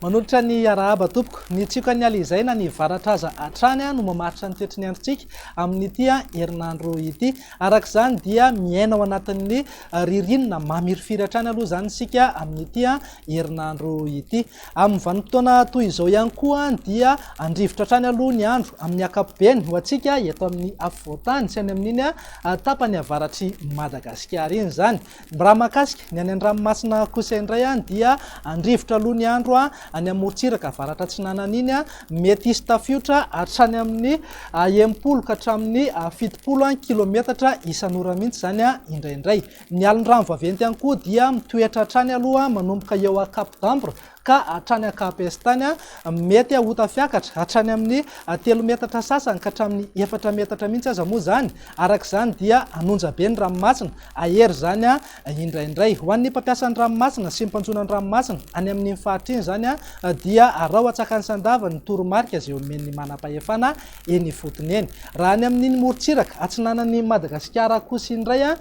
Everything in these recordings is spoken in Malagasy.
Manolotra ny arahaba tompoko. Ny tsiokan'ny ala izay na ny varatra aza hatrany no mamaritra ny toetry ny androntsika amin'ity herinandro ity. Araka izany dia miaina ao anatin'ny ririnina mamirifiry hatrany aloha izany isika amin'ity herinandro ity. Amin'ny vanim-potoana toy izao ihany koa dia handrivotra hatrany aloha ny andro amin'ny ankapobeny ho antsika eto amin'ny afovoan-tany sy any amin'iny tapany avaratr'i Madagasikara iny izany. Raha mahakasika ny any an-dranomasina kosa indray dia handrivotra aloha ny andro any amorontsiraka avaratra atsinanana iny, mety hisy tafiotra hatrany amin'ny enimpolo ka hatramin'ny fitopolo kilaometatra isan'ora mihitsy izany indraindray. Ny alin'ny rano vaventy ihany koa dia mitoetra hatrany aloha manomboka eo Cap-d'Ambre ka hatrany Cap-Estain. Mety ho tafiakatra hatrany amin'ny telo metatra sasany ka hatramin'ny efatra metatra mihitsy aza moa izany. Araka izany dia hanonja be ny ranomasina. Hahery izany indraindray. Ho an'ny mpampiasa ny ranomasina sy ny mpanjono ny ranomasina any amin'iny faritra iny izany dia arao an-tsakan'ny sandavany ny toromarika izay omen'ny manam-pahefana. eny ifotony eny. Raha ny amin'iny morontsiraka atsinanan'i Madagasikara kosa iny indray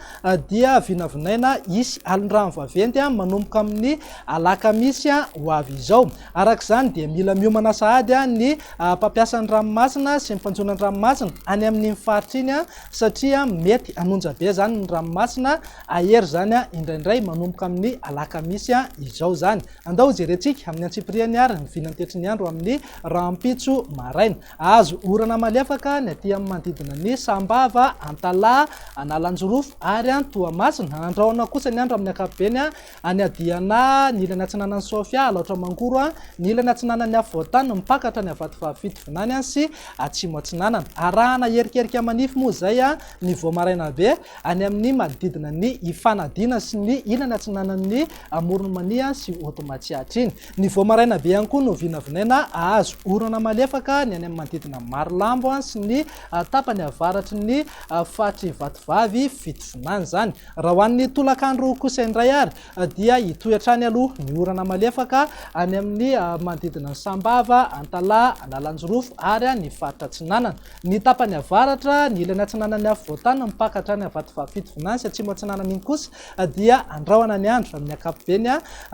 dia vinavinaina hisy alin-drano vaventy manomboka amin'ny alakamisy ho avy izao. Araka izany dia mila miomana sahady ny mpampiasa ny ranomasina sy ny mpanjono an-dranomasina any amin'iny faritra iny satria mety hanonja be izany ny ranomasina, hahery izany indraindray manomboka amin'ny alakamisy izao izany. Andao hojerentsika amin'ny antsipiriany àry ny vinantetry ny andro amin'ny rahampitso maraina. Hahazo orana malefaka ny aty amin'ny manodidina ny Sambava, Antalaha, Analanjirofo ary any Toamasina. Andrahona kosa ny andro amin'ny ankapobeny any Adiana, ny ilany atsinanan'i Sofia, Alaotra Mangoro, ny ilany atsinanan'i Afovoantany, mipaka hatrany Avatovaavy Fitovinany sy Atsimo Atsinanana. Arahana hierikerika manify moa izay ny vao maraina be any amin'ny manodidina ny Ifanadiana sy ny ilany atsinanan'ny amoron'i Mania sy Haute Matsiatra iny. Ny vao maraina be ihany koa no vinavinaina hahazo orana malefaka ny any amin'ny manodidina Marolambo sy ny tapany avaratry ny faritr'i Vatovavy fitovinany izany. Raha ho an'ny tolakandro kosa indray ary dia hitohy hatrany aloha ny orana malefaka any amin'ny manodidina ny Sambava, Antalaha, Analanjirofo ary ny faritra Atsinanana. Ny tapany avaratra, ny ilany atsinanan'ny afovoantany mipaka hatrany Vatovavy fitovinany sy atsimo atsinanana iny kosa dia andrahona ny andro amin'ny ankapobeny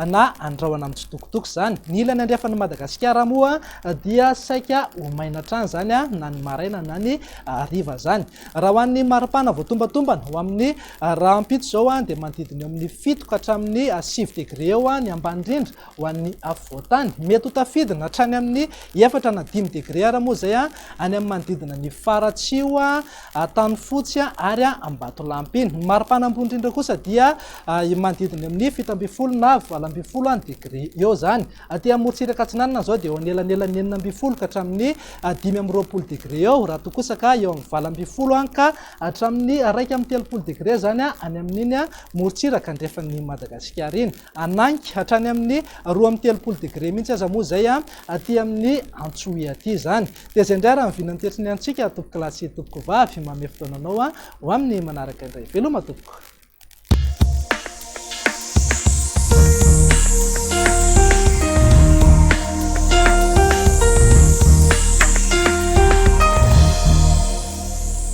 na andrahona amin'ny tsitokotoko izany. Ny ilany andrefan'i Madagasikara moa dia saika ho maina hatrany izany na ny maraina na ny hariva izany. Raha ho an'ny maripana voatombantombana ho amin'ny rahampitso izao dia manodidina eo amin'ny fito ka hatramin'ny sivy degre eo ny ambany indrindra ho an'ny afovoantany. Mety ho tafidina hatrany amin'ny efatra na dimy degre ary moa izay any amin'ny manodidina ny faratsiho Antanifotsy ary Ambatolampy. Ny maripana ambony indrindra kosa dia eo manodidina amin'ny fito ambin'ny folo na valo ambin'ny folo degré eo izany. Aty amorontsiraka atsinanana izao dia eo anelanelan'ny enina ambin'ny folo ka hatramin'ny dimy amby roapolo degré eo, raha toa kosa ka eo amin'ny valo ambin'ny folo ka hatramin'ny iraika amby telopolo degré izany any amin'iny morontsiraka andrefan'i Madagasikara iny. Hanangy hatrany amin'ny roa amby telopolo degré mihitsy aza moa izay aty amin'ny Antsohihy aty izany. Dia izay indray ary ny vina an'ity antson'ny antsika tompoko lahy sy tompoko vavy. Manome fotoana anao ho amin'ny manaraka indray. Veloma tompoko.